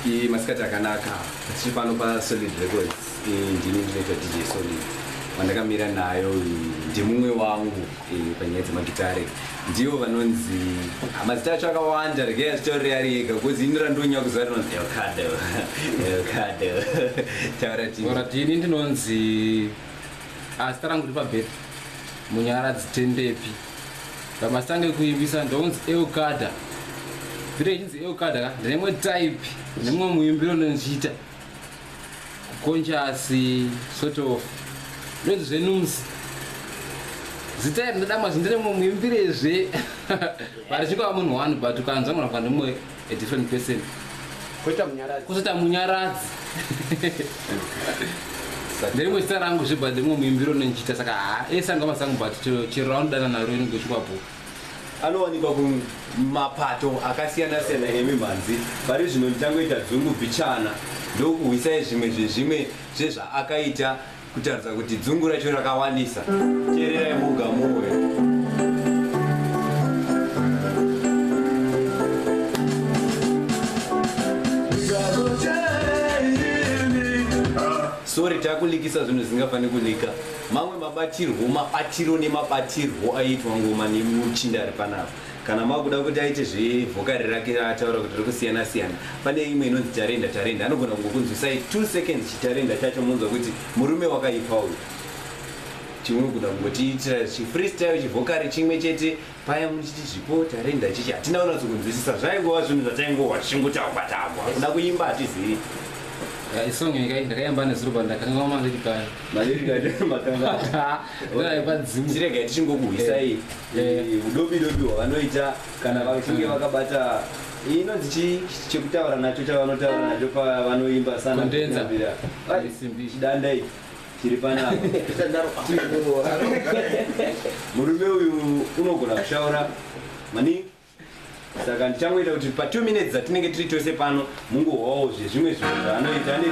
Iyi masikati akanaka tiri pano paSolid Records. Iyi ndini ndinoita DJ Solid vandakamira nayo ndimumwe wangu panyaya dzemagitare ndivo vanonzi mazita acho akawanda rege achitaurira ari ega bcause ini randonya kuziva rinonzi elcado elcado tauratini ndinonzi azita rangu ripabheti munyaradzi tendepi Ndamasange kuimbisa ndonzi Eukada. Vile chinzi Eukada ka ndine type nemwe muimbiro ndinochiita. Conscious sort of. Ndonzi zvenums. Zita iri ndadama zvindine mwe muimbirezve. Vari chikwa munhu one but ukanzwa mwana kwa ndimwe a different person koita munyaradzi kozoita munyaradzi nderimwe zita rangu zve but rimwe muimbiro nondichiita saka ha ese angava zangu but chero raunodana naro inenge uchikwapo anowanikwa kumapato akasiyana siyana emimhanzi pari zvino ndichangoita dzungu bhichana ndokuhwisai zvimwe zvezvimwe zvezvaakaita Kutaridza kuti dzungu racho rakawanisa. Teererai muga muwe. sorry takulikisa zvinhu zvisingafaniri kulika mamwe mabatirwo mabatiro nemabatirwo aiitwa ngoma nemuchinda ari panapa kana makuda kuti aite zvevhokari rake ataura kuti rikusiyana siyana pane imwe inonzi tarenda tarenda anogona kungokunzwisai two seconds chitarenda chacho monzwa kuti murume wakaipa uyu chimwe kuda kungotiitira chifreestyle chivhokari chimwe chete paya muchiti zvipo tarenda chichi hatina unatso kunzwisisa zvaingova zvinhu zvataingova tichingotagwa tagwa kuda kuimba hatizivi eh, isong ikai ndakaimba nezuruba ndakanga maleri kani maleri kani makanga ndaipa dzimu chiregai tichingokuhwisai eh. Eh, udobi dobi hwavanoita kana vachinge vakabata inonzi chii chekutaura nacho chavanotaura nacho pavanoimba sana Kondenza. kunyambira. Ai, Simbi. chidanda ichi chiri panapa murume uyu unogona kushaura maningi saka ndichangoita kuti pa 2 minutes dzatinenge tiri tose pano mungohwawo zvezvimwe zvinhu zvaanoita ane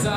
Yeah.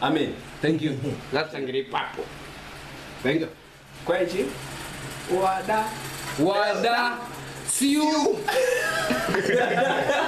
amen thank you ngatangira ipapo thank you kwaichi wada wada siu